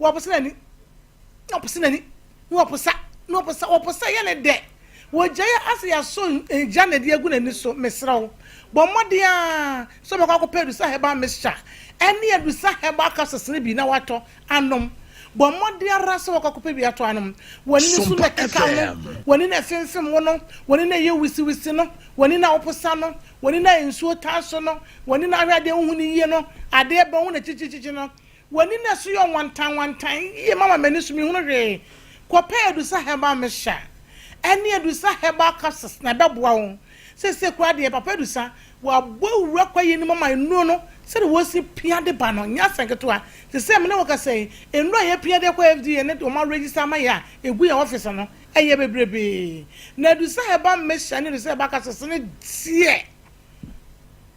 Wɔpo sɛ n'ani, wɔpo sɛ n'ani, wɔpo sa, wɔpo sa, wɔpo sɛ yɛ ne dɛ. Wɔgya yɛ asɛ yɛaso gya na ɛde agu n'ani so. Mesrɛ wo, bɔ mmɔden ara sɛ wobɛkɔ akɔpɛ Adusa Herbal Mixture ne Adusa Herbal Capsules no bi na woatɔ anom. Bɔ mmɔden ara sɛ wobɛkɔ akɔpɛ bi atɔ anom. W'ani no so na ɛkekaw no, w'ani no a ɛfemfem wo no, w'ani no a ɛyɛ wisiwisi no, w'ani no a wopo sa no, w'ani no a nsuo taa so no, w'ani no a ahwɛ adeɛ wohu no yie no, adeɛ bɛn wo na kyikyikyi no, W'ani na ɛso yɛ ɔwantanwantan yie mama m'ani so menhunu hwee. Kɔpɛ Edusa Herbal Mixture ɛne Edusa Herbal Capsules na ɛbɛboa wo. Seesei koraa deɛ Papa Edusa wabɔ wura kwaeɛ no mu ama nnuro no sɛdeɛ wɔsi pia de ba no nyɛ asɛm ketewa. Te sɛ me ne wo kasa yi, nnuro a yɛpia de kɔ FDA ne deɛ wɔn aregister ama yɛn a ɛgu yɛn ɔfese no, ɛyɛ bebrebee. Na Edusa Herbal Mixture ne Edusa Herbal Capsules no deɛ,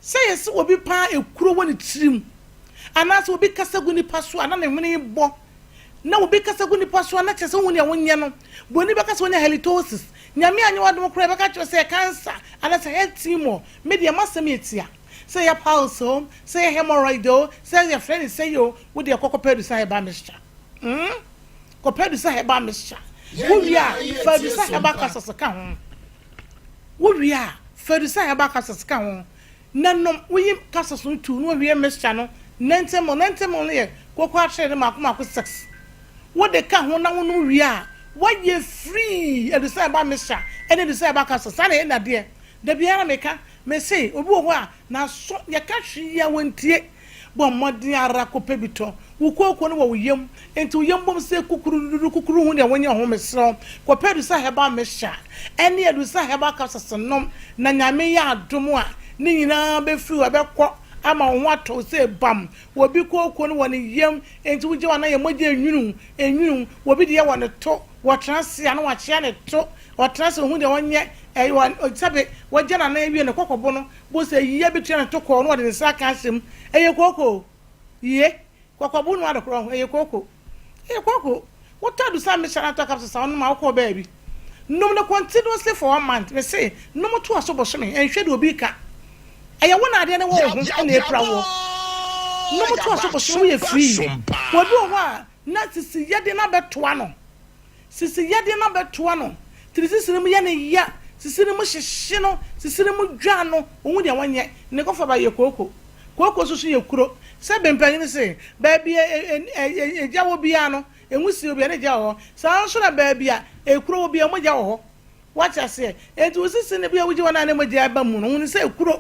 Sɛ yɛse obi paa ekuro wɔ ne tirim, anaasɛ obi kasa gu nipa so a na ne hwene rebɔ, na obi kasa gu nipa so a na kyerɛ sɛ wohu nea wonyɛ no. Buroni bɛka sɛ wanya halitosis. Nyame anyɛ w'adom koraa a, ɛbɛka akyerɛ wo sɛ ɛyɛ cancer anaasɛ head tumor. Me deɛ m'asɛm yɛ tia. Sɛ ɛyɛ piles o, sɛ ɛyɛ hemorrhoid o, sɛ yɛfrɛ no sɛyi o, wo deɛ kɔ kɔpɛ adusa herbal mixture. Kɔpɛ adusa herbal mixture. Wowie a, fa adusa herbal capsules ka ho. Wowie a, fa adusan a yɛabɔ capsules ka ho na nom. Woyi capsules no tuw na wowie mixture no Nantamu, Nantamu no yɛ kooko atere no mmaako mmaako six. Wode ka ho na wonom wie a, woayɛ free adusan a ɛba mixture ne adusan a ɛba capsules. Saa na ɛyɛ nnadeɛ. Da biara meka, mese obi wɔ hɔ a n'aso yɛka hwee a wɔntie. Bɔ mmɔden ara kɔpɛ bi tɔ. Wo kooko no wɔ wo yam, enti wo yam bom sɛ kukurududu kukuru hu deɛ wonyɛ ho. Mesrɛ wo, kɔpɛ adusa herbal mixture ne adusa herbal capsules nom, na Nyame yɛ adom a, ne nyinaa bɛfiri hɔ, ɛbɛkɔ ama wo ho atɔ wo sɛ bam. Obi kooko no wɔ ne yam, enti wogye wo a na yɛ mogya enwunu enwunu. Obi deɛ wɔ ne to, ɔtena ase a na wakyea ne to, ɔtena ase a ɔhu deɛ ɔnyɛ, ɛyɛ ɔn, sɛbe wagya no anaa awie no kɔkɔbo no Bo sɛ yiyɛ bi tua no to kɔɔ na ɔde ne nsa aka asɛm. Ɛyɛ kooko o. Yie. Kɔkɔ bo noa dokorɔ ho. Ɛyɛ kooko. Ɛyɛ kooko. Wotɔ adusa me hyɛ na tɔ kapsesa nom a wokɔɔ baabi. Nom no continuously for one month. Me se, nom to aso bosome. Ɛnhwɛ deɛ obi reka. Ɛyɛ wo na adeɛ no wɔ wo ho na ɛpira woɔ. Nom to aso bosome. Woyɛ free. Obi wɔ hɔ a, na sisiyɛ de no abɛtoa no. Sisi yɛ de no abɛtoa no tiri sisiri mu yɛ no ya sisiri mu hyehye no sisiri mu dwa no ɔhu deɛ wɔnyɛ ne kɔfa ba yɛ kooko kooko soso yɛ kuro sɛ bɛ mpanyini se baabi a ɛgya wɔ biara no ɛnwusie wɔ biara ne gya wɔ hɔ saa nso na baabi a ɛkuro wɔ biara mu gya wɔ hɔ. Wate aseɛ? Enti wo sisi no bia wogye wɔn a ne mogya ɛba mu no hunu sɛ ekuro,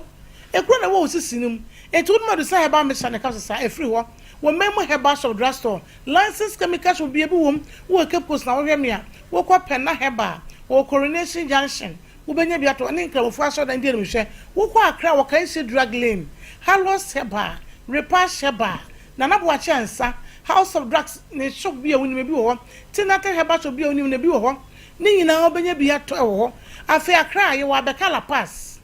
ekuro na ɛwɔ wo sisi no mu. Enti wonom adusa herbal mixture na ɛka so saa, ɛfiri hɔ. Wɔ main mu herbal shop, drug store, licensed chemical shop bia bi wɔ mu, wowɔ Cape Coast na wohwɛ me a, wokɔ Pena Herbal, wɔwɔ Coronation Junction, wobɛnya bi atɔ, ne Nkramofoɔ asɔredan di anim hwɛ, wokɔ Accra a wɔ Kaeshe Drug Lane, Hallows Herbal, Repash Herbal, Nana Boakye Ansah, House of Drugs, ne shop bi a wonim, ebi wɔ hɔ, Tinatin Herbal Shop bi a wonim no, ebi wɔ hɔ, Ne nyinaa wobɛnya bi atɔ wɔ hɔ. Afei Accra a, yɛwɔ abɛka La Paz.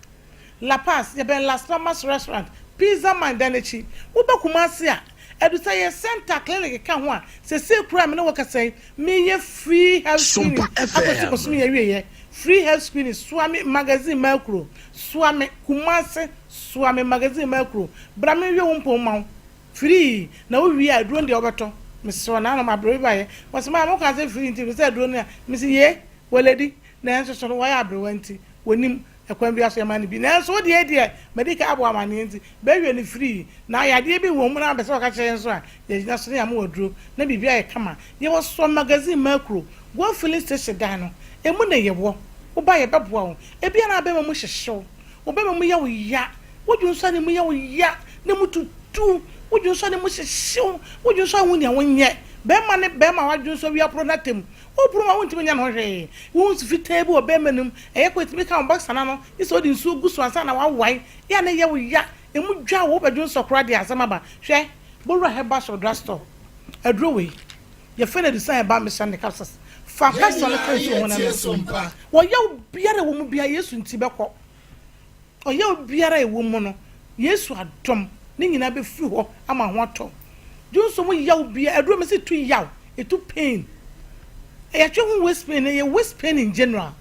La Paz, yɛbɛn Las Palmas Restaurant, Pizza Man dan no akyi. Woba Kumasi a, ɛdu sɛ yɛn Center Clinic ka ho a, seesei koraa a me ne wo rekasa yi, mereyɛ free health screening akɔsi bosome yi awieɛ. Free health screening, soa me magazine Maa Kuro, soa me, Kumasi, soa me magazine Maa Kuro. Bra menwie wo mpɔn mma wo. Firii na wo wie a aduro no deɛ wobɛtɔ mesrɛ na ano mabrɛ bi bayɛ wɔse maa mo kaa sɛ firii nti mesɛ aduro no a mese yee wɔlɛdi nanso so no wɔyɛ abrewa nti wɔnim ɛkwan bia so yɛma no bi nanso wo deɛ deɛ madi kan abɔ amaneɛ nti bɛwie no firii na ayadeɛ bi wɔ mu na bɛsɛ wɔka kyerɛ yɛn nso a yɛgyina so ne yɛama wo aduro na biribi ayɛ kama yɛwɔ soɔ magazine makuro guo filling station dan no ɛmu na yɛwɔ woba yɛbɛboa wo ebi a na bɛma mu hyehye wo wo bɛma mu yɛ wo ya. Wo dwonsɔ ne mu yɛ wo ya na mu tutu. Wo dwonsɔ ne mu hyehyew. Wo dwonsɔ a wunhu nea wonyɛ. Barima ne barima a w'adwonsɔ wie aporow no atam. Woporow mu a wuntumi nyɛ ne ho hwee. Wohu nsu fitaa bi wɔ barima no mu. Ɛyɛ kwa a etumi ka wo boxer no ano gye sɛ wode nsuo gu so ansa na woawae. Yɛ a na ɛyɛ wo ya. Emu dwa wo. Wobɛdwonsɔ koraa deɛ a asɛm aba. Hwɛ Bowura Herbal Shop Drug Store. Aduro wei, yɛfrɛ no Adusan Herbal Mixture ne Capsules. Fa capsule no ka nsuo ho na nom. Wɔyaw biara a ɛwɔ mu biara, Yesu nti bɛkɔ. Ɔyaw biara a ɛwɔ mu no, Yesu adom, ne nyinaa bɛfiri hɔ ama ho atɔ. Dwonsɔ mu yaw biara, aduro mese ɛtu yaw, ɛtu pain. Yɛatwe ho waist pain, ɛyɛ waist pain in general.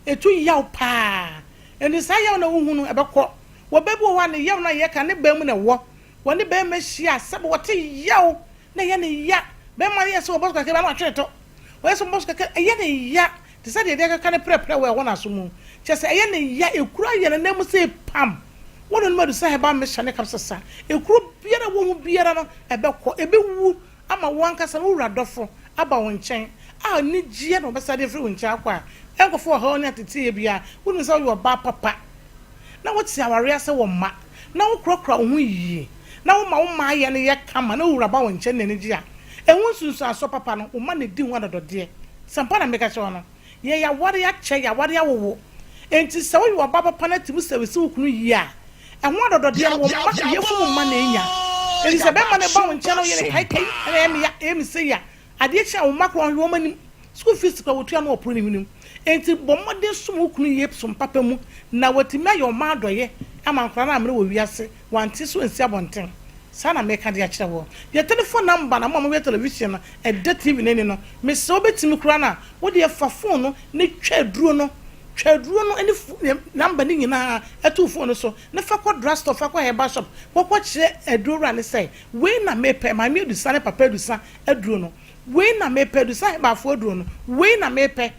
Ɛtu yaw paa. Ɛnti saa yaw na wohu no, ɛbɛkɔ. Wɔ bɛ bi wɔ hɔ a, ne yaw no a yɛka ne baa mu na ɛwɔ. Wɔne bɛɛma hyia a, sɛbe wɔte yaw na ɛyɛ ne ya. Bɛɛma no yɛ sɛ ɔbɔ so kakra bi a na watwe ne to. Ɔyɛ sɛ ɔbɔ so kakra, ɛyɛ ne ya. Te sɛ deɛ ebi akeka ne prɛprɛ wɔ ɛhɔ n'aso mu, kyerɛ sɛ ɛyɛ ne ya, ekura yɛn ananmu sɛ epam wɔ n'anom adu sɛ herbal mixture ne kapsesa. Ekuro biara a ɛwɔ ho biara no, ɛbɛkɔ, ebewu ama wo ankasa na wo wura dɔfo aba wo nkyɛn a anigyeɛ na ɔbɛsan de afiri wo nkyɛn akɔ a ɛnkɔfa ɔhaw ne ateteeɛ biara. Wonim sɛ woyɛ ɔbaa papa na wote awareɛ ase wɔ mma. na wokurakura wo ho yiye, na woma wo mayɛ no yɛ kama, na wo wura ba wo nkyɛn na n'ani gye a, ɛho nsunsuansoɔ papa no, wo mma na ɛdi ho adɔdɔdeɛ. Sɛ ampa na meka kyerɛ wo no, yɛn aware akyɛ, yɛn aware awowo. Enti sɛ woyɛ ɔbaa papa na tumi sɛ resi wo kunu yie a, ɛho adɔdɔdeɛ no, wo mma, yafunu mma na ɛnya. Enti sɛ bɛrima no ba wo nkyɛn na woyɛ no kaikai, ɛna ɛyɛ me ya, ɛyɛ me sei a, Adeɛ kye a, wo mma koraa wɔnhwɛ wɔn anim. Sukuu fees koraa wɔtua na wɔporo ne hwenem. Enti bɔ mmɔden som wo kunu yie som papa mu na watumi ayɛ ɔma adɔeɛ ama nkwadaa no ammrɛ wɔ wiase, wɔante so ansi abɔnten. Saa na meka de akyerɛ woɔ. Yɛ telefon namba na mo a mohwɛ television no ɛdɛ TV no ani no, mesrɛ wo bɛtumi koraa no a, wo deɛ fa fon no ne twa aduro no, twa aduro no ne fo ne namba no nyinaa to wo fon no so na fa kɔ drugstore, fa kɔ herbal shop kɔkɔkyerɛ aduro wura no sɛ wei na mepɛ, maame Adusa ne papa Adusa Aduro no, wei na mepɛ. Adusa Ahebafoɔ aduro no, wei na mepɛ.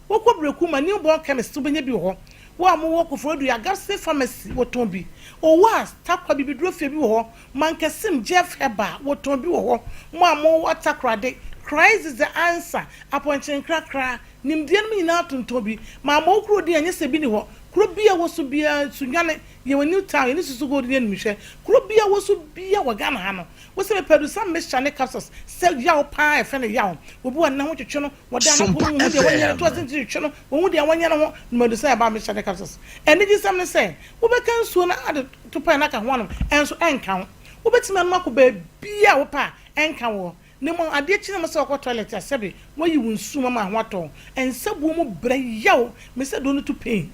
Wokɔ Breku ma New Born Chemist nso wobɛnya bi wɔ hɔ. Wo a mowɔ Koforidua Agapsey Pharmacy, wɔtɔn bi. Owahs, Tarkwa Bibidurofie bi wɔ hɔ. Mankasim, Jeff Herbal, wɔtɔn bi wɔ hɔ. Mo a mowɔ Takoradi, Christ is the Answer, Apɔnkye Nkrakra, Nimdeɛ nom nyinaa tontɔn bi. Maa mo kuro din a nyɛ sɛ bi nni hɔ. Kuro bi a ɛwɔ so biara, Sunyani, yɛwɔ New Town, yɛne Susu Gold di animhwɛ. Kuro bi a ɛwɔ so biara wɔ Ghana ha no, Wose mepɛ do sɛ mehyɛ ne capsules sɛ yaw paa a yɛfrɛ no yaw. Obi wɔ ne ho twetwe no, wɔda no po mu nhu deɛ wɔnyɛ no, to ase nti twetwe no, wɔnhu deɛ wɔnyɛ no ho na madu sɛ ɛba a mehyɛ ne capsules. Anigyesɛm ne sɛ, wobɛka nsuo no ade to pɛn no aka ho anom, ɛnso ɛnka wo. Wobɛtumi anom akɔ baabiara a wopɛ a ɛnka woɔ. Na mmom adeɛ kye ne mu sɛ wokɔ toilet a sɛbe woayi wo nsuo mu ama ho atɔ wo. Nsabuo mu brɛ yaw, mesɛ duro no to pain.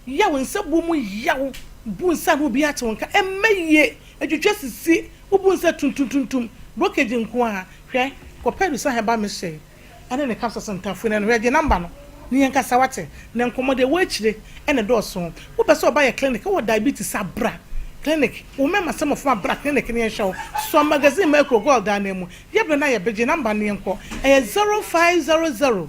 Yɛ wo nsa bɔ mu yaw. Bu nsa a na obi ate wo nka. Ɛmma yie. Twitwa sisi. Wobu nsa tuntumtuntum. Brokeji nko ara. Hwɛ, kɔpɛ Adusa Herbal Mixture yi ne ne capsules ntaafuo no ano. Hwɛ, gye number no na yɛnkasa, wate? Na nkɔmmɔ deɛ ɛwɔ akyire na ɛdɔɔso. Wopɛ sɛ ɔba yɛ clinic wɔ diabetes a, bra clinic. Wo mmɛma sɛ mmɔframma bra clinic na yɛnhwɛ wo. Sua magazine ma akuro gold anan mu. Yɛbrɛ no ayɛ be. Gye number no na yɛnkɔ. Ɛyɛ zero five zero zero.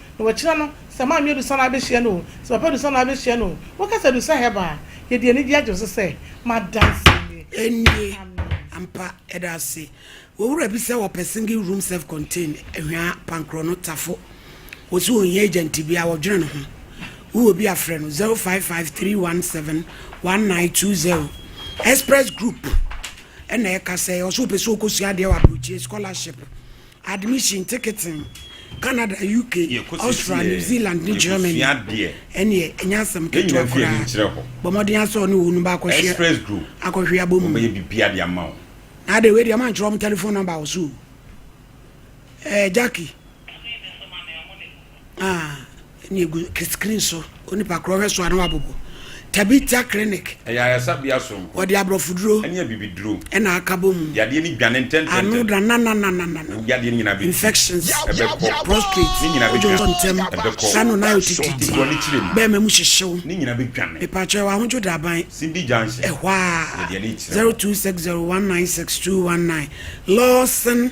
Na wɔakyina no, sɛ Maame Adusa na abɛhyia no o, sɛ Papa Adusa na abɛhyia no o, woka sɛ Adusa Herbal a, yɛde anigyeɛ agye wo so sɛ m'adanseɛ nie. Ɛnie, ampa, yɛda ase. Owura bi sɛ ɔpɛ single room self contained, Ahwaa, Pankorɔ no, Tafo. Ɔse ɔnhia agent biaa, ɔdwene ne ho. Wowɔ bi a frɛ no 0553171920. Express group na ɛkasa yi. Ɔse ɔpɛ sɛ ɔkɔsua adeɛ wɔ aburokyire, scholarship. Admission tekete Canada, UK, Austria, New Zealand ne Germany ɛneɛ ɛnyɛ asɛm ketewa koraa. Bɔ mmɔden ara sɛ wo ne wɔn ba akɔhwɛ akɔhwe abɔ mu. Na adɛn wei deɛ mankyerɛ wɔn telephone number wɔ so o. Ɛɛ Jackie. Ah, ɛna egu screen so. Onipa korɔ hwɛ so a na wabobo. Tabitha Clinic. Ɛyɛ ayarsabea soronko. Wɔde aborɔfoduro. Ɛne abibiduro. Ɛna akabɔ mu. Yadeɛ no dwane ntɛntɛntɛm. Ano da nananananana. Wo yadeɛ no nyinaa bɛtu. Infections. Ɛbɛkɔ. Prostrate. Ne nyinaa bɛdwane. Odwo ntɛm. Ɛbɛkɔ. Sano na ayɔ tititi. Dwa ne kyerɛ mu. Bɛɛma mu hyehyew. Ne nyinaa bɛdwane. Mepakyɛ ɛwɔ ahodwo daban. Simbi junction. Ɛhɔ a. Yɛde ani kyerɛ. 0260196219 Lawson.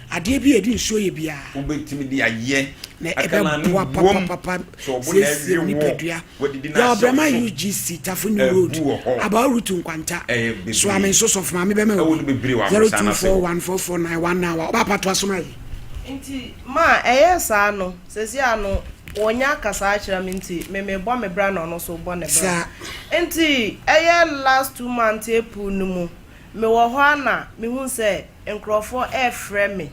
Adeɛ bi a ɛde nsuo yɛ biara. Wobɛtumi de ayɛ. Na ɛbɛboa papapapa siesie nipadua. Yɛwɔ Brema UGC, Tafunyu Road, Abao Rutu Nkwanta. Soa me nso sɔfo maame bɛma wo bi. 0241449191 Ɔbaa pa toa so ma yɛ. Nti ma ɛyɛ saa no sɛsi a no ɔnya kasa akyerɛ me nti me me bɔ me bra na ɔno nso bɔ ne bra nti ɛyɛ last two months April no mu Mewɔ hɔ ara na mehuu sɛ nkurɔfoɔ refrɛ me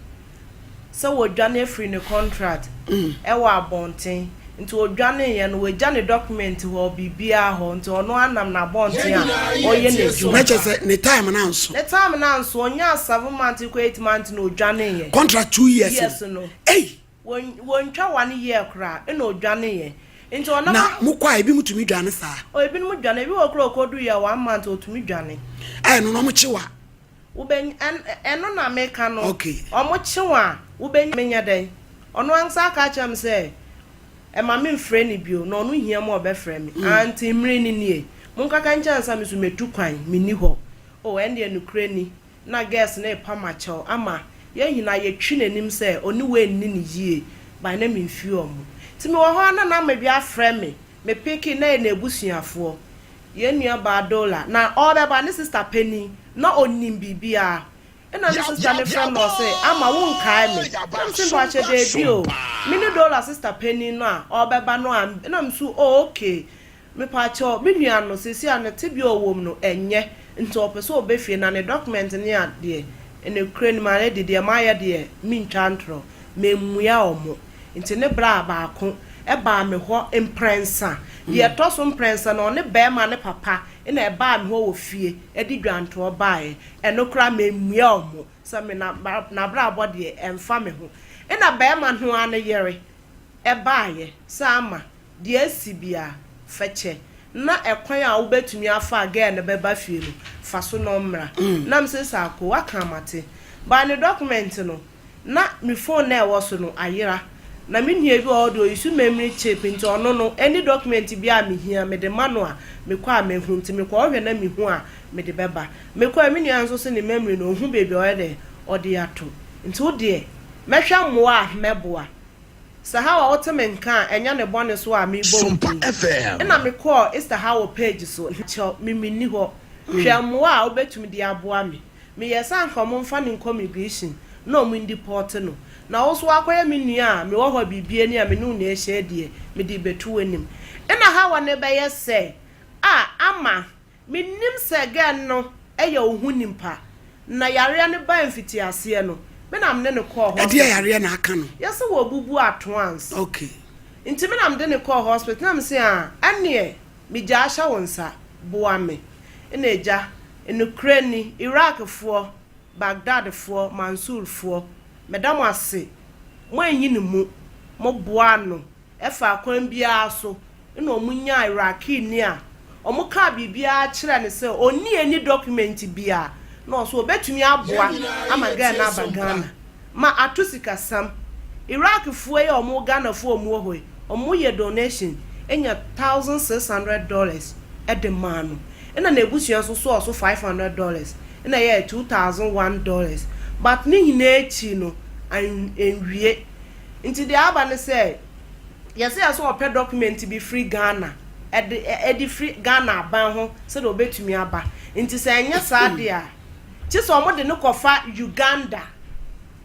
sɛ wɔdwane afiri ne kɔntrat wɔ abɔnten. Nti ɔdwaneeɛ no, wagya ne dɔkumɛnti hɔ, biribiara hɔ. Nti ɔno ara nam n'abɔnten a ɔreyɛ n'adwuma. Na kyerɛ sɛ ne time no anso. Ne time no anso. Ɔnyaa seven months kɔ eight months na ɔdwaneeɛ. Kɔntrat two years no. Yes no. Ei! Wɔntwa wane yɛɛ koraa ɛna ɔdwaneeɛ. Nti ɔnam. Na mokɔ a ebinom tumi dwane saa? O ebinom dwane, ebi wɔ koraa ɔkɔduu yɛ one month ɔtumi dwane. A ɛno no wɔkye wo a. Wobɛnya, ɛno na meka no. Okay. Wɔkye wo a wobɛnya, menyɛ dɛn? Ɔno ankasa aka akyerɛ me sɛ ɛma me mfrɛ no bio, na ɔno hia mu a ɔbɛfrɛ me. Ah nti mmere no nie. Monkaka nkyɛ ansa me nso mɛtu kwan, menni hɔ. O ɛndeɛ nokorɛ ni. Na girls no repam akyɛw ama yɛn nyinaa yɛtwi n'anim sɛ ɔne wei nni no yie but na memfiri wɔn mu nti mewɔ hɔ ara na na Mary afrɛ me me peke na yɛ n'abusuafoɔ yɛn nuabaa Dola na ɔrebɛba ne sister panin na ɔnim biribiara ɛna ne sister no frɛ me na ɔse Ama wonkae me na mese mpakyɛ daabi o mene Dola sister panin no a ɔrebɛba no a ɛna meso oh okay Mepaakyɛw, me nua no seesei a ne tebea a ɔwɔ mu no ɛnyɛ nti ɔpɛ sɛ ɔba fie na ne document ne a deɛ nokorɛ nim ara de deɛ mayɛ deɛ mentwa ntorɔ, mammua ɔmo nti ne bra baako baa me hɔ mprɛnsa, deɛ ɛtɔ so mprɛnsa no ɔne barima no papa na ɛbaa me hɔ wɔ fie ɛde dwantoɔ baeɛ, ɛno koraa mammua ɔmo sɛ me nabrabɔ deɛ ɛmfa me ho, ɛna barima no ara ne yere ɛbaeɛ sɛ ama deɛ asi bi a, fa kyɛ na ɛkwan a wobɛtumi afa a girl no bɛba fie no, fa so na ɔmmra. Na me se, saa ko, woaka a mate. But ne document no, na me phone no a ɛwɔ so no ayera. Na me nua bi wɔ hɔ deɛ ɔuse memory chip nti ɔno no, any document biara a mehia, mede ma no a, mekɔ a mɛhu. Nti mekɔɔhwɛ na mehu a, mede bɛba. Mekɔ a, me nua nso se ne memory no, ɔhu baabi a ɔyɛ dɛn, ɔde ato. Nti wo deɛ, mɛhwɛ mmoa a mɛboa. Sahawa ɔtse me nkã a nnyɛ ne bɔne so a mebɔ wo din. Nna mekɔɔ Sahawa page so na kyɛw me minnyi hɔ. Hwɛ mboa a wobetumi dze aboa me. Meyɛɛ sɛ anka ɔmo mfa no nkɔ migration na ɔmo ndipɔɔte no. Na wo so wɔakɔyɛ me nua a mewɔ hɔ a biribiara nni a me no wo na ehyɛ deɛ mede rebɛto w'anim. Nna Hawa no bɛyɛ sɛ a ama. Mennim sɛ gɛn no yɛ wo ho nimpa na yareɛ no baɛ mfitiaseɛ no me na mene no kɔɔ hospital. Ɛdeɛ yareɛ na aka no. Yɛse wɔ bubu ato ans. Ok. Nti me na mede no kɔɔ hospital na mese aa ɛneɛ me gya ahyɛ wo nsa boa me na agya nokorɛ ni Iraq foɔ Baghdad foɔ Mansour foɔ meda mo ase mo anyi ne mu mo boa no Ɛfaa kwan biara so na wɔnyaa Iraqini a wɔkaa biribiara kyerɛɛ no sɛ ɔnni any document biara na ɔso ɔbɛtumi aboa ama guy no aba Ghana ma ato sikasam. Iraqfoɔ yi a wɔwɔ Ghanafoɔ a wɔwɔ hɔ yi, wɔyɛ donation nya thousand six hundred dollars de maa no na n'abusua nso sɔɔ so five hundred dollars na ɛyɛɛ two thousand one dollars but ne nyinaa akyi no, anwie. Nti deɛ aba ne sɛ, yɛse yɛse ɔpɛ document bi firi Ghana, ɛde ɛde firi Ghana aban ho sɛdeɛ ɔbɛtumi aba. Nti sɛ ɛnyɛ saa deɛ a, gye sɛ wɔde no kɔfa Uganda.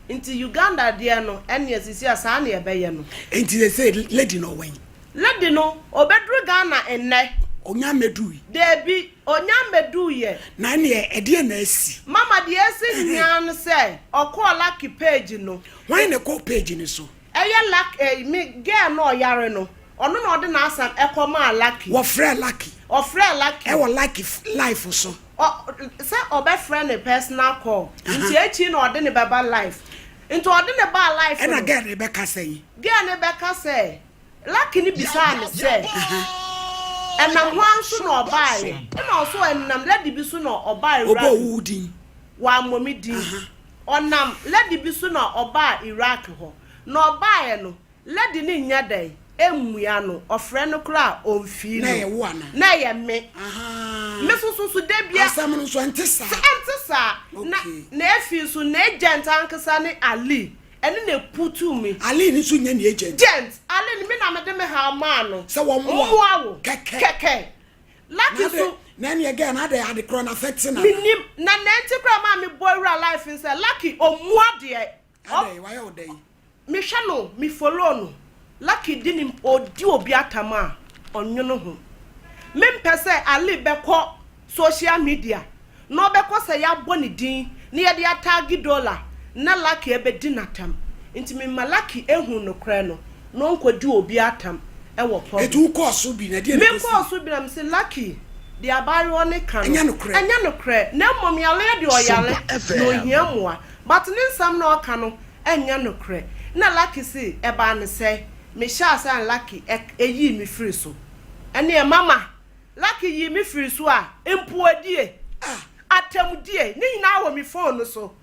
Nti Uganda deɛ no, ɛnneɛ seesei a saa na yɛbɛyɛ no. Nti seesei lady no ɔwɛn? Lady no, ɔbɛduru Ghana nnɛ. Ɔnnya mmɛduui? Daabi, ɔnnya mmɛduuiɛ. Na ɛnneɛ ɛdeɛn na asi? Mama, deɛ asi nyinaa ne sɛ, ɔkɔɔ Lucky Page no. Hwan na ɛkɔ page no so? Ɛyɛ luck eh me girl no ɔyare no ɔno na ɔde n'asɛm ɛkɔ maa lucky. Wɔfrɛɛ lucky. Ɔfrɛɛ lucky. Ɛwɔ lucky life so. Ɔ sɛ ɔbɛfrɛ ne personal call nti akyiri na ɔde no bɛba life nti ɔde no baa life no. Ɛna girl no bɛka sɛn? Girl no bɛka sɛ lucky no bisaa no sɛ ɛnam hwan so na ɔbaeɛ ɛna ɔse ɛnam lady bi so na ɔbaeɛ wura mi. Ɔbɔɔ wo din? Wammɔ me din. Ɔnam lady bi so na ɔbaa Iraq hɔ. Na ɔbaeɛ no, lady no nnya dɛn? Mmua no. Ɔfrɛ no koraa a, ɔmfii no. Na ɛyɛ wo anaa? Na ɛyɛ me. Ahaa. Me nso so, so da bia. Asɛm no nso, ɛnte saa? Sɛ ɛnte saa. Na, Okay. na afei nso, n'agent ankasa ne Ali. Ɛno na ɛputuu me. Ali no nso nyɛ ne agent? Agent. Ali no, me na mede me haw maa no. Sɛ wɔmmoa wo. Mmoa wo. Kɛkɛ. Kɛkɛ. Lucky nso. Na ɛneɛ girl no adɛ ade korɔ no affecting nana. Menim na nɛ nti koraa maa me bɔ awura life no sɛ Lucky ɔmmu adeɛ. Adɛn wayɛ wo dɛn. Me hwɛ no me follow no Lucky di ne ɔdi obi atam a ɔnwono ho. Me mpɛ sɛ Ali bɛkɔ social media na ɔbɛkɔ sɛ yɛabɔ ne din na yɛde ataage Dola na Lucky abɛdi no atam. Nti mema Lucky ahunu nokorɛ no na ɔnkɔdi obi atam wɔ public. Nti wokɔɔ so bi na ɛdeɛn na ɛkɔsiiɛ? Mekɔɔ so bi na mese Lucky, deɛ abaayewa no ka no, ɛnyɛ nokorɛ na mmom yareɛ deɛ ɔyare na ɔhia mmoa but ne nsɛm na ɔka no nyɛ nokorɛ. Ɛna Lucky se ɛbaa no sɛɛ, mehyɛɛ aseɛ na Lucky yii me firi so. Ɛneɛ mama Lucky yii me firii so a, mpowadie, ah, atɛmdie, ne nyinaa wɔ me fon no so.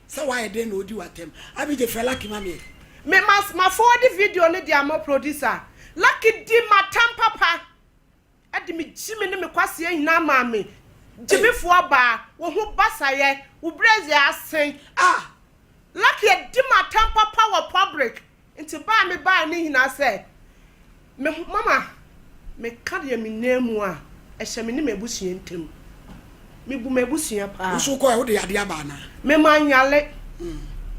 Sɛ wayɛ dɛn na ɔdi wo atɛm? Abigye, frɛ Lucky ma me. Me ma, ma fowadi video no de ama wo, Produsa. Lucky di m'atɛm papa, ɛde me gyimi ne me kwaseɛ nyinaa maa me. Gyimifo ɔbaa, wo ho basayɛ, wo brɛs yɛ asen. Ah! Lucky adi m'atɛm papa wɔ public, Nti ba a mebaeɛ no nyinaa sɛ me ho mama meka deɛ menim mu a ɛhyɛ me ne m'abusua ntam. Mebu m'abusua pa ara. Wo nso wokɔeɛ wode adeɛ aba anaa? Me manyale.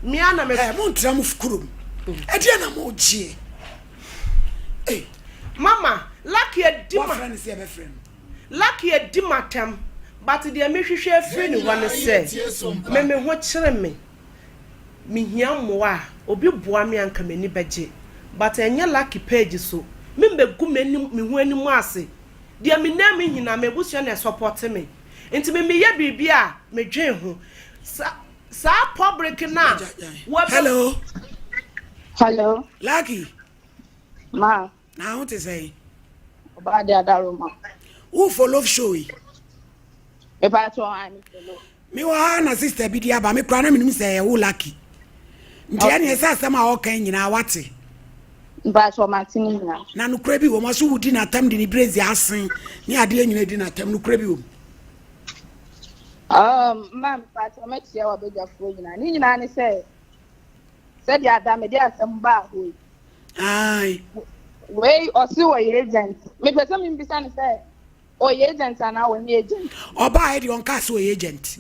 Me ara na me. Ɛɛ montra mo kurom. Ɛdeɛ na mogyeɛ. Ei. Mama, Lucky adi ma. Wafrɛ no sɛ ɛbɛfrɛ no. Lucky adi m'atɛm but deɛ mehwehwɛ afiri ne hɔ ne sɛ me me ho kyere me. mehia mmoa a obi boa me a nka m'ani bɛgye but ɛnyɛ lucky page so me mɛgu m'anim me ho anim ase deɛ me nan mu hina m'abusua na ɛsɔpɔte me nti me meyɛ biribi a me dwen ho sa saa public no a wɔbɛ Hello. Hello. Lucky. Ma. Na wo te sɛn? Ọba de adaroma. Wo follow show yi. Epa to ha mi follow. Me wɔ ha na sister bi di aba me kura na me nim sɛ ɛyɛ wo lucky. Nti ɛne ɛsɛ asɛm a ɔka nyinaa wate. Mpa to ma te ne nyinaa. Na nukura bi wɔ mu aso wudi n'atam de ne brezi asen ne adeɛ nyinaa di n'atam nukura bi wɔ mu. Um, ma mpa to ma tia wɔ badwafoɔ nyinaa. Ne nyinaa ne sɛ sɛdeɛ ada mede asɛm baa hɔ yi ae wei ɔse ɔyɛ agent mepɛ sɛ membisa no sɛ ɔyɛ agent anaa ɔnyɛ agent ɔbaa ɛdeɛ ɔnkaa sɛ ɔyɛ agent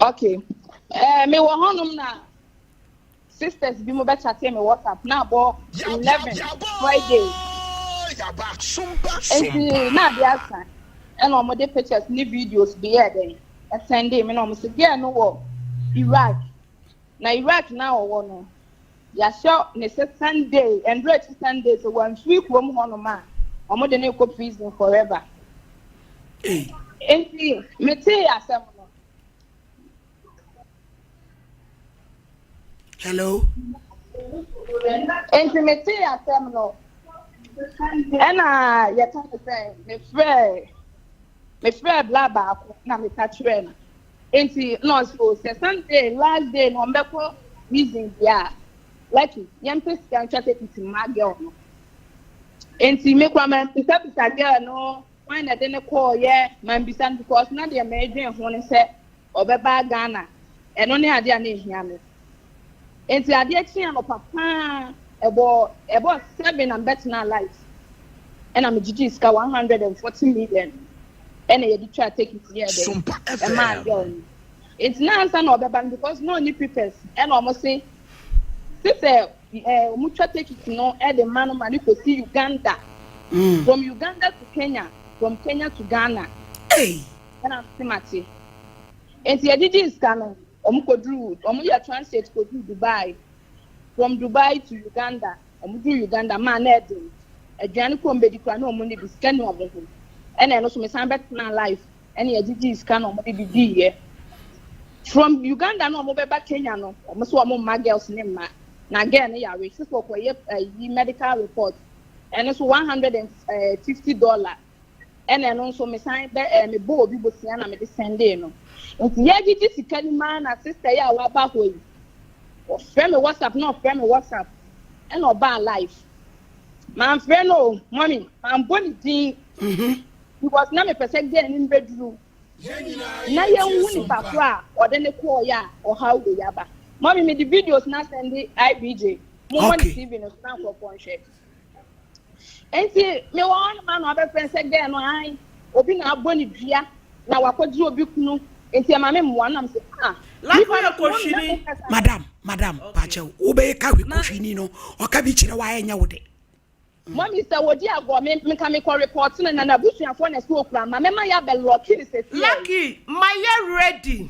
ok eh, mewɔ hɔnom na sisters bi mo bɛkyate me whatsapp na abɔ 11 friday nti na ade asa ɛna wɔn de pictures ne videos bi yɛ dɛn ɛsɛn de mi na wɔn sɛ girl no wɔ iraq na Iraq na ɔwɔ no, yɛahyɛ ne sɛ Sunday, ɛndura akyi Sunday sɛ wamfiri kurom hɔnom a, wɔde no rekɔ prison forever. Nti metee asɛm no. Hello. Nti metee asɛm no. Ɛna yɛka ne sɛ mefrɛ mefrɛɛ bla baako na meka kyerɛɛ no nti na ɔse o sɛ sunday last day na ɔmbɛkɔ reason deɛ a lucky yɛmpɛ sika ntwa tekiti mma girl no nti me kora mambisabisa girl no wan na ɛde no kɔɔyɛ mambisa no because na deɛ meedwen ho no sɛ Ɔbɛba Ghana, ɛno ne adeɛ a na ɛhia me. Enti adeɛ kyee anɔpa pa ara, ɛbɔɔ ɛbɔɔ seven na mebɛtenaa light. Ɛna megyigyee sika one hundred and forty million ɛna yɛde twaa tekiti yɛɛ dɛ Sumpa ɛmaa FM. girl no. Enti na ansa na ɔbɛba no because na ɔnni papers ɛna wɔn se gye sɛ ɛɛ wɔn twa tekiti no ɛde ma no ma no kɔsi Uganda, from Uganda to Kenya, from Kenya to Ghana. Ei! Ɛna mese mate. Enti yɛgyigyee sika no, wɔn kɔduruu, wɔn yɛ transit kɔduruu Dubai. From Dubai to Uganda, wɔn duruu Uganda, maa na ɛden. Aduane kɔɔ mbɛdi koraa na wɔn nni bi, sika nni wɔn ho. Ɛna ɛno nso mesan bɛtenaa life, ɛna yɛgyigyee sika na wɔn de bi diiɛ. From Uganda na wɔn bɛba Kenya no, wɔn nso wɔn mma girls ne mma. Na girl no yare, sisi ɔkɔyɛ ayi medical report, ɛno nso one hundred and fifty dollar ɛna ɛno nso mesan bɛ ɛɛ mebɔ obi bosea na mede sɛndee no nti yɛgyegye sika no mu ara na sista yi a waba hɔ yi ɔfrɛ me whatsapp na ɔfrɛ me whatsapp ɛna ɔbaa live manfrɛ no o mɔmi manbɔ ne din mhm. because na mepɛ sɛ gɛɛ ne mbɛduru na yɛnhu nipa ko a ɔde ne kɔɔ yɛ a ɔhaw wɔ yaba mɔmi mede videos na sɛnde ibj mo mɔ ne tv no so na nkurɔfoɔ nhwɛ Enti mewɔ hɔ hema na wabɛfrɛ sɛ gɛɛ no ae obi na abɔ ne dua na wakɔgye obi kunu nti ɛma me mmoa nam sɛ ah nipa no so wɔn nyɛ mo kasa. Madam madam pakyɛw wobɛyɛ ka hwi kohwini no ɔka bi kyerɛ wa ɛnyɛ wo de. Mɔmi sɛ odi agorɔ me nka mekɔ report no na nabusuafoɔ na ɛsɛ okura ma mɛma yɛ abɛ lɔki no sɛsi ɛyi. Lucky ma yɛ ready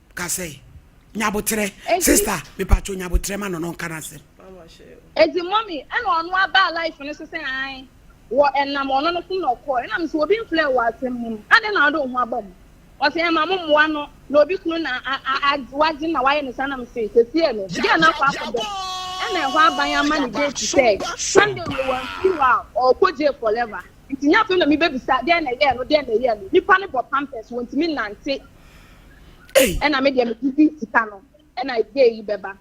Ka sɛ, nyaboterɛ, sister, mepatwo nyaboterɛ ma no no nka n'asɛm. Eti mommy, ɛna ɔno abaa life no so sɛ ae, wɔ ɛnam ɔno no so na ɔkɔɔ, ɛna mesɛ obi mfrɛ wɔ asɛm mu no, adɛn na wode wo ho abɔ mu? Ɔse ɛma mo mmoa no, na obi kunu na wagye na wayɛ no saa, na mesɛ sɛsiɛ no, deɛ na akɔ akɔ dɔ no, ɛna ɛhɔ aban ama ne date sɛ Sunday wei wamfiri hɔ a, ɔɔkɔ jail forever. Nti nyɛ afei na mebɛbisa dɛn na ɛyɛɛ no, dɛn na ɛyɛɛ no, nipa no bɔ pampers, wɔntumi nnante. ɛna me deɛ me didi sika no ɛna gay yi bɛba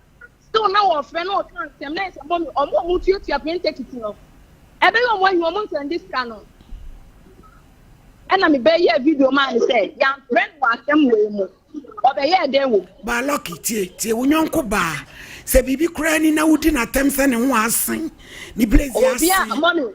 still na wɔfrɛ na ɔka nsɛm na ɛsɛ mɔmi ɔmo ɔmo tuatua plane ticket no ɛbɛyɛ ɔmo anyi ɔmo nsɛn de sika no ɛna me bɛyɛ video maa ne sɛ yɛamfrɛ no wɔ asɛm wei mu ɔbɛyɛ dɛn wɔ mu. baa lɔki tie tie wo nyɔnko baa sɛ biribi koraa ni na wodi n'atɛm sɛ ne ho asen ne blaze asen. obi a mɔmi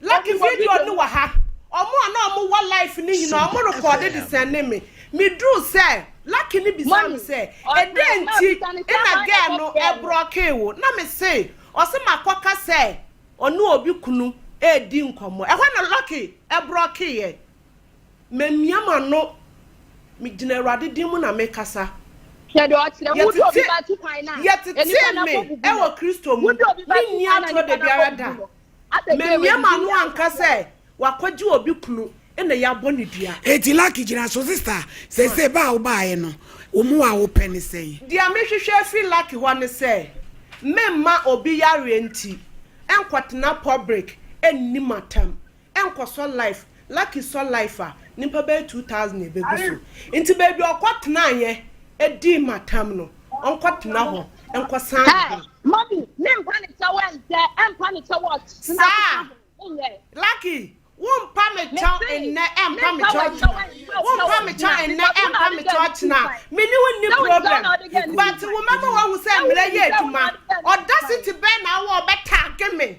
Lucky video no wɔ ha. Ɔmo a na ɔmo wɔ life no nyinaa ɔmo rekɔɔde de sɛnde me. Me duru sɛ, Lucky no bisaa me sɛ, Ɛdɛn nti na girl no brɔkee wo? Na me se, Ɔse makɔka sɛ ɔne obi kunu redi nkɔmmɔ. Ɛhɔ na Lucky brɔkeeɛ. Mamia m'ano. Me gyina Awurade din mu na mekasa. Yɛtetee me wɔ Kristo mu. Menni atoro dabiara da. Mamiam ano anka sɛ wakɔgye obi kunu na yɛabɔ no dua. Eti lucky gyina so sister sese ba a wobaeɛ no wo mmoa a wopɛ ne sɛn? Deɛ mehwehwɛ afiri lucky hɔ ne sɛ memma obi yareɛ nti nkɔtena public nni matam nkɔsɔ life Lucky sɔ life a nnipa bɛyɛ two thousand ɛbɛgu so nti baabi a ɔkɔ tenaeɛ dii matam no ɔnkɔ tena hɔ nkɔsan ne ho. Mami me mpa ne kyɛw ɛnsɛ ɛmpa ne kyɛw ɔt tena kɔka ho nyɛ. Lucky wo mpa me kyɛw nnɛ ɛmpa me kyɛw ɔkyena wo mpa me kyɛw nnɛ ɛmpa me kyɛw ɔkyena me ne wo nni problem but wo mɛma wahu sɛ mmerɛ yɛ adwuma audacity bɛn na awɔ ɔbɛtag me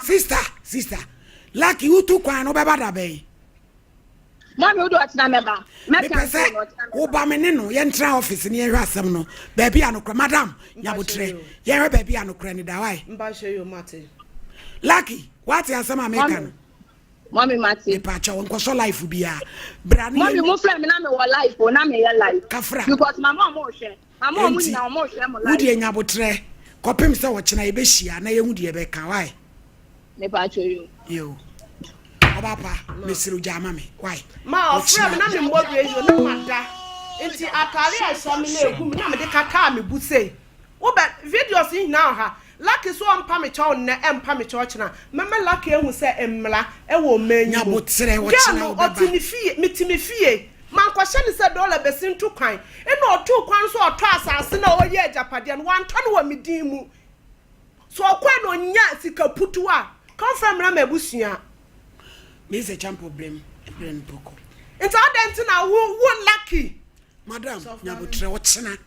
sista sista laki wotu kwan no bɛba da bɛn mepɛ sɛ woba me ne no yɛntra office ne yɛhwɛ asɛm no baabi a nokorɛ madam nyabotrɛ yɛhwɛ baabi a nokorɛ ne dawae laki woate asɛm a meka no mami mati. nipa kyɛw nkɔsɔ life bia. brani yɛ mami mo fila mi na mi wɔ life o na mi yɛ life. kafra because mama ɔmo hwɛ. Enti, wo deɛ nya aboterɛ kɔpem sɛ ɔkyena yɛbɛhyia na yɛhu deɛ ɛbɛka wai. Yo. Ɔba pa, mesrɛ wo gyaa ma me wai. Ma ɔfrɛ me na memmɔ radio na mada. Enti atare a ɛhyɛ me na ɛgu me na mede kakaa me bo sei. Wobɛ videos yi nyinaa wɔ ha. Lucky so ɔmpa me kyɛw nnɛ ɛmpa me kyɛw ɔkyena mɛma lucky ahu sɛ mmra ɛwɔ ɔman yi mu girl no ɔte me fie mete me fie mankɔhyɛ no sɛ dollar bɛsi nto kwan ɛna ɔtoo kwan sɛ ɔtɔ asase no a ɔyɛ agyapadeɛ no wantɔ no wɔ me din mu sɛ ɔkɔɛ na ɔnya sika putuo a ka ɔmfa mmra m'abusua. Mese champo brem ɛbrɛ no prɔko. Nti adɛn nti na wo wo lucky. Madam nyabotrɛ ɔkyena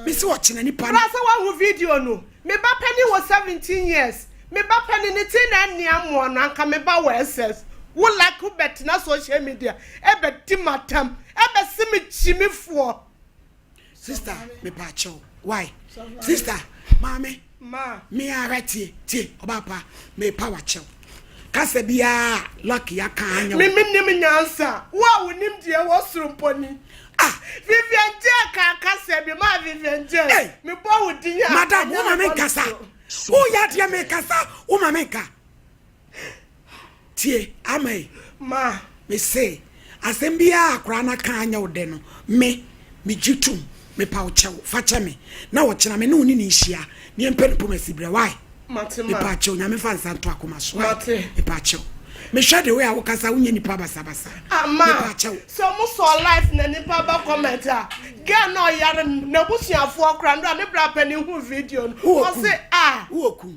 mese ɔkyena nipa no. Bra sɛ wahu video no. Me ba panin wɔ 17 years me ba panin ne tiri na ɛnne amoa no anka me ba wɔ SS wo lucky wobɛtena social media ɛbɛdi m'atam ɛbɛse me kyimifoɔ. sista mepaakyɛw why sista maame me ara tie tie ɔbaa pa mepa wakyɛw kasa biara lucky aka anya me menim nyansa wo a wonim deɛ wɔ soro mpɔni ah vivian jɛ ka kasa bi ma vivian jɛ mebɔ wo din a madam wo ma me nkasa woyɛ adeɛ mekasa wo ma me nka Tie, ama yi. Ma me se, asem biara a akwaraa no aka a anyɛ wo dɛ no, me, me gye tom. Mepa wo kyɛw. Fa kyɛ me. Na ɔkyena, me ne wo ne no nhyia, na yɛmpɛ no pomasi berɛ. Wai? Mate, ma. Mepa kyɛw, Nyame mfa nsa nto akoma so. Wai? Mate. Mepa kyɛw. Mehwɛ the way a wo kasa, wo nyɛ nipa basabasa. Ah, ma. Mepa kyɛw. Sɛ mo sɔɔ life na nipa ba comment a, girl no ɔyare no, n'abusuafoɔ koraa, no a ne bra panin huu video no, ɔse, ah. Wo oku.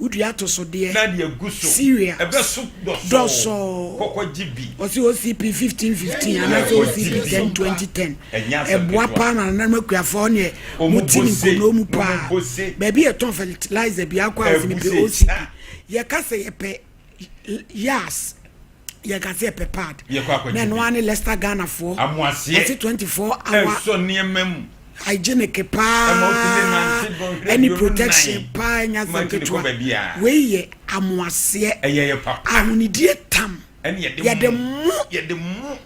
wodua atosodeɛ na deɛ ɛgu so cereals ɛbɛso dɔsɔɔ dɔsɔɔ kɔkɔ gye bi ɔsi ocp fifteen fifteen Yɛ anaasɛ kɔ ocp gye bi. ten twenty ten ɛnyɛ asɛm ɛboa ketewa paa na nananom akuafoɔ hɔ neɛ Ɔmo mo ti ne bose, nkonnoo mu ɔmo paa bose. baabi yɛ tɔn fertilizer bi akɔ a ɔsi mepɛ Ɛbose, ocp ah. yɛka sɛ yɛpɛ l- yas yɛka sɛ yɛpɛ pad Yɛkɔ akɔgye na ɛno bi. ara ne Leicester Ghanafoɔ Amoaseɛ. wɔte 24 hour ɛsɔ nneɛma mu hygienic ɛma paa wotumi nante dɔnhwere ɛne aduonu protection nan paa ɛnyɛ ma asɛm ntumi kɔ ketewa baabi a wei yɛ amoaseɛ ɛyɛ yɛ papa ahonidie tam ɛne yɛde yɛde mo mo yɛde mo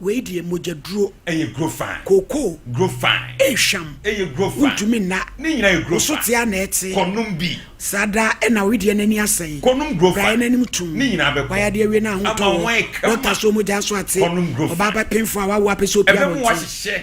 Wei deɛ mogya duro. Ɛyɛ guro fine. Kookoo. Guro fine. Ei hwam. Ɛyɛ guro fine. Wontumi nna. Ne nyinaa yɛ guro fine. Woso tea na ɛte. Kɔ nom bi. Saa da ɛna owedeɛ n'ani asɛe. Kɔ nom guro fine. Braeɛ n'anim tum. Ne nyinaa bɛkɔ. W'ayadeɛ awie na ahotɔ wɔ. Ama ho ayɛ kama. Dɔkta so mogya nso ate. Kɔ nom guro fine. Ɔbaa bɛpemfo a wawo apɛ sɛ opie abɔnten. Ɛbɛmu wahyehyɛ.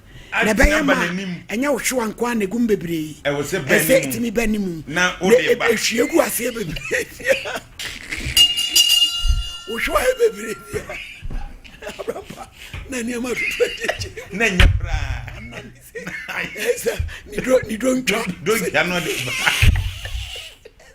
na ɛbɛyɛ ma ɛnyɛ wo hwewa nko a na egum bebree ɛsɛ etumi bɛ ne mu na ehwie gu aseɛ bebree wo hwewa yɛ bebree bia abrapa na nneɛma tutu akyekye na nyɛ koraa ɛsɛ ne duro ne duro ntwa duro ntwa no de ba.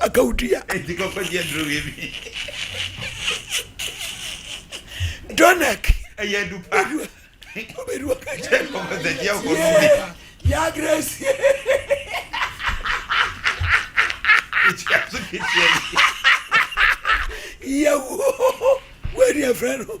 na ka odua. Enti kɔkɔ gye aduro wie bi. Donek. Ɛyɛ adu pa. Obedua ka kyerɛ. Kɔkɔ sɛ gye akɔ nom bi. Yaa Grace. Etua so ketewa bi. Yawu. Wei deɛ frɛ no.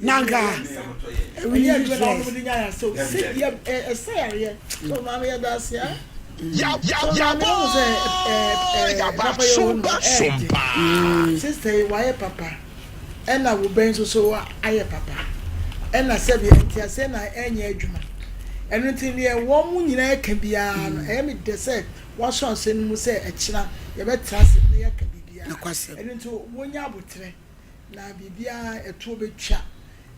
nanka ɛna wo bɛn nso so ayɛ papa ɛna sɛbi ɛnti ase na ɛnyɛ adwuma ɛno ti deɛ wɔn nyinaa ɛka biara no ɛyɛ mi dɛ sɛ. Wɔahyɛ ɔhyɛ no mu sɛ ɛkyena yɛbɛtra ase na yɛaka biribiara. Nokwasɛm. Ɛno nti wɔnya aboterɛ, na biribiara ɛtoɔ bɛtwa.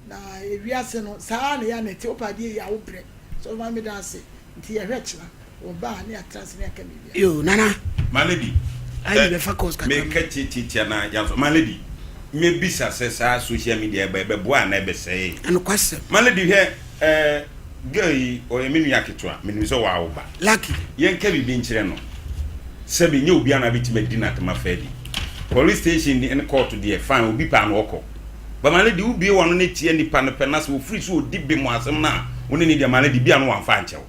Na ewiase no, saa ara na ɛyɛ a na ɛte. Wopɛ adeɛ yie a, wobrɛ. So ɔbɛma meda ase? Nti yɛhwɛ kyena wɔba a na yɛatra ase na yɛaka biribiara. Yoo, Nana. My lady, Ayi eh, bɛfa course kakra mu. meka tiatiatia na yɛansɔ. My lady, mɛbisa sɛ saa social media yi ba, ɛbɛboa anaa ɛbɛsɛee? Nokwasɛm. My lady, hwɛ, Ɛɛ girl yi ɔyɛ me nua ketewa menim sɛ wawo ba. Lucky yɛnka biribi nkyerɛ no sɛbi ɛnyɛ obiara na abɛtumi adi no atɛm afa adi. Police station deɛ ne court deɛ fine obi pɛ a na ɔkɔ but maame deɛ wobue w'ano na tia nipa no pɛ na sɛ ɔfiri so ɔdi bem wɔ asɛm no a wo ne no di a maame deɛ bi a na wamfa ankyɛ wo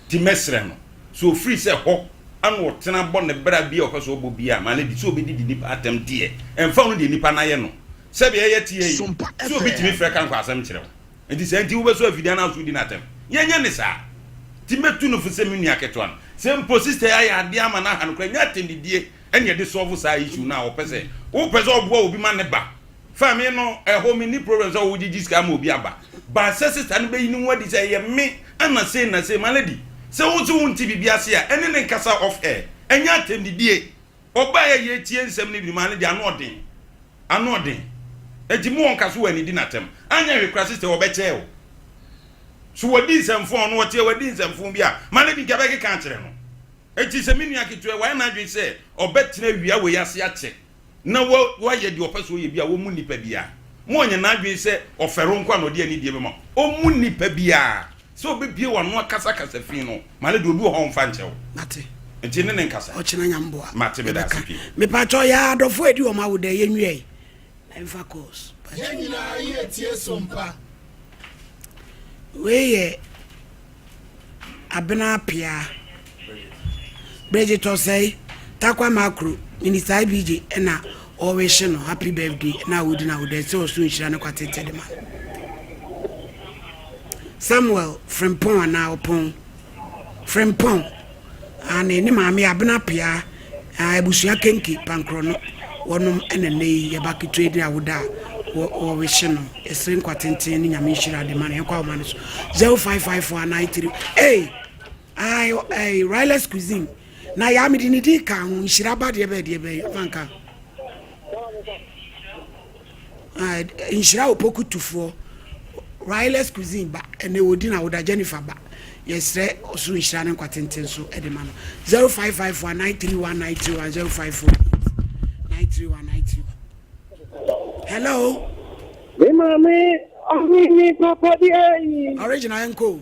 nti mɛsrɛ no sɛ ɔfiri sɛ hɔ ana ɔtena bɔ ne bra bi a ɔpɛ sɛ ɔbɔ bi a maame deɛ sɛ ɔbɛdidi nipa atɛm deɛ ɛmfa ho no deɛ nipa no ayɛ no sɛbi ɛyɛ teɛ yi sɛ obi tumi frɛ ka nkɔ asɛm kyerɛ wo. Enti saa nti wobɛsɔ afidie anaa wosɔ odi no atɛm? Yɛnyɛ no saa. Enti mɛtu no fo sɛ me nua ketewa no. Sɛ mpo sista yi ayɛ adeɛ ama no aha no koraa, nyɛ atɛnnidie na yɛde sɔlvo saa issue no a ɔpɛ sɛ wopɛ sɛ ɔboa obi ma ne ba fa me no ɛhɔ. Menni problem sɛ wogyegye sika ama obi aba, but sɛ sista no bɛyi ne ho adi sɛ ɛyɛ me ana sei na sei. Malady, sɛ wo se wonte biribi ase a, ɛne no nkasa off air. Ɛnyɛ atɛnnidie. Ɔbaeɛ a yɛretie nsɛm no bi no, Malady, ano ɔden. Anoɔden. Enti mo wɔnka so wɔ anidi na atɛm. Anyɛ hwe kora sister wɔbɛkyɛɛ wo. So wadi nsɛmfoo ɔno ɔteɛ wadi nsɛmfoo bi a ma no bi nka bɛkeka akyerɛ no. Enti sɛ me nua ketewa wayɛ n'adwene sɛ ɔbɛtena wia wei ase akyɛ na wa wayɛ deɛ ɔpɛ sɛ ɔyɛ bi a wɔmmu nnipa biara. Ma ɔnyɛ n'adwene sɛ ɔfɛro nko a na ɔde anidie bɛma. Ɔmmu nnipa biara. Sɛ obebue w'ano akasa kasa fi no, ma no de obi wɔ hɔ a ɔmfa nkyɛ wo. Mate. Nti ne ne nkasa. Ɔkyena nyamboa. Mate meda ase pii. Me pa kyɛw yɛ adɔfo edi wɔn awo dɛ yɛ nwiai na yɛ fa calls. Yɛn nyinaa yɛ tie so mpa. Wei yɛ abena pea. Bridget Osei Takwa Makro Minister IBJ na ɔrehye no happy birthday na odi na ɔda sɛ ɔso nhyira ne kwatete de ma no. Samuel Frimpong anaa Ɔpɔn Frimpong ane ne maame Abena Pia abusua Kenke Pankorɔ no wɔnom na nnɛ yi yɛba ketewa din a woda a wɔrehye no ɛsere nkwatenten ne nyame nhyira de ma no yɛnkɔ ahoma no so 055493 hey Ae eh, Ryla's cuisine. Na ya me de ne din ka ho, nhyira ba deɛ bɛyɛ deɛ bɛyɛ, ɔfa nka. Ah, nhyira opoku tufoɔ. Ryla's cuisine ba, ɛnɛ wɔdi na woda Jennifer ba. Yɛsrɛ ɔsoro nhyira ne nkwa tenten so de ma no. 0554 931 931 0548 931 931. Hello. Me maame ɔhene papa di ayi. Original enko.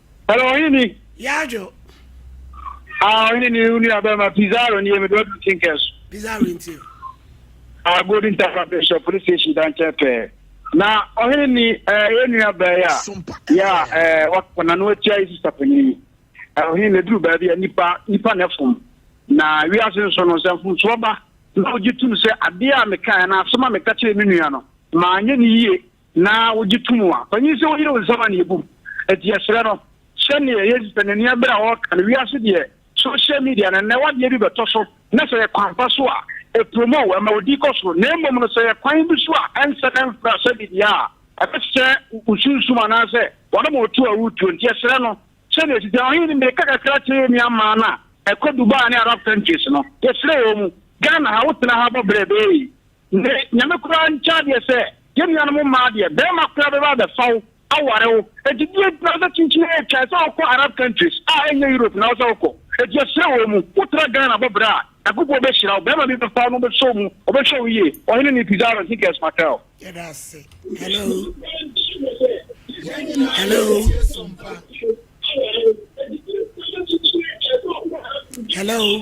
Hello, ɔhene ni. Yadwo. Ah, ɔhene ni unu abɛma Pizarro ni emedo adu tinkɛ so. Pizarro nti. Ah, Golden Tapa Bishop police station dan kyɛ pɛɛ. Na ɔhene ni eh enua bɛɛ ya. Ya eh wakɔ na no atia isi sapani. Eh ɔhene ni duru baabi a nipa nipa na fom. Na wiase nso no sɛ mfomsoɔ ba na ogye tum sɛ adeɛ a meka na asɛm a meka kyerɛ me nua no ma anyɛ ne yie na wogye to mu a, panyin sɛ woyere wo nsam a na yebu mu. Enti yɛsrɛ no sɛ nea yesi sɛ ne nea bere a ɔreka no, wiase deɛ social media no nnɛ wadeɛ bi bɛtɔ so na sɛ yɛ kwan pa so a ɛpromo wo, ɛma wo din kɔ soro, na mmom no sɛ yɛ kwan bi so a ɛnsɛ na ɛmfra sɛ biribiara a ɛbɛsɛsɛ wo sunsum anaasɛ wɔnom wo tuo a woretuo. Nti yɛsrɛ no sɛ nea esi sɛ ɔhene no mmirika kakra kyerɛ yɛn nua mmaa no a ɛkɔ Dubai ne Arab countries no, yɛsrɛ wɔn mu, Ghana ha, wotena ha bɔ brɛ bɛɛ yi, Ne Nyame koraa nkyɛ adeɛ sɛ yɛn nuanom mmaa deɛ barima koraa bɛba abɛfa wo aware wo enti deɛ nti na wosɛ kyinkyin retwa ɛsɛ wokɔ Arab countries a ɛnyɛ Europe na wosɛ wokɔ enti yɛsrɛ wɔ mu wotra Ghana bɔ bra a Nyankopɔn bɛhyira wo barima bi bɛfa wo na ɔbɛsɔ wo mu ɔbɛhwɛ wo yie Ɔhene ne Pizarro Enriquez Martel. Yɛda ase. Hello. Hello. Hello.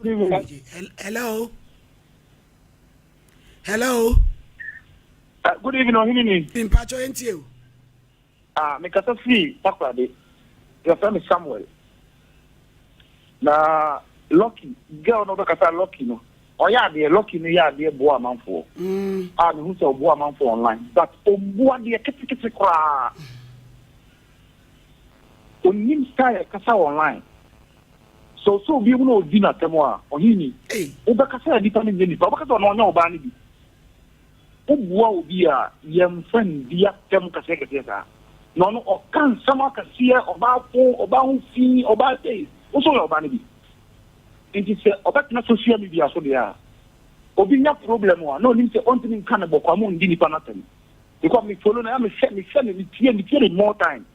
Hello. Hello. Uh, good evening, Ohinini. Mpacho Entio. Ah, uh, me kasa free Takrade. Your friend is Samuel. Na Lucky, girl no kasa Lucky no. Ɔyɛ adeɛ Lucky no yɛ adeɛ boa amanfoɔ. Mm. Ah, me hu sɛ ɔboa amanfoɔ online. But ɔboa adeɛ ketekete koraa. Onim style kasa online. Sɛ ɔsɛ obi mu na ɔdi no atɛm a, ɔheni, wobɛka sɛ nnipa no nyɛ nnipa, wobɛka sɛ ɔno ɔnyɛ ɔbaa no bi. Wobua obi a, yɛmfa nndi atɛm kɛseɛkɛseɛ saa. Na ɔno ɔka nsɛm akɛseɛ, ɔbaa fo, ɔbaa ho fi, ɔbaa sei, wo nso woyɛ ɔbaa no bi. Nti sɛ ɔbɛtena social media so deɛ a, obi nya problem a, na ɔnim sɛ ɔntumi nka no bɔkɔ a, mo nndi nnipa no atɛm. Because me follow no, ɛyɛ a mehwɛ, mehwɛ no, metie, metie no more time.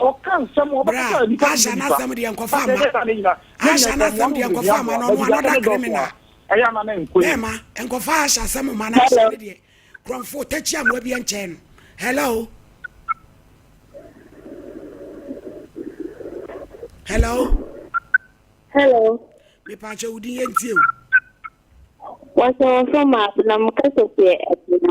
Ɔka nsɛm a Bra, ɔbɛkasa nnipa Asia no asɛm deɛ nkɔfa mma. Asia no asɛm deɛ nkɔfa mma no, ɔno another criminal. Bɛɛma, nkɔfa Asia asɛm mma no, Asia no deɛ korɔmfo takyi amoa bi nkyɛn no. Hello? Hello? Hello? Mepaakyɛ wo din yɛ ntie o. Wɔsɛ wɔfrɛ m a, na mekasa firi Abia.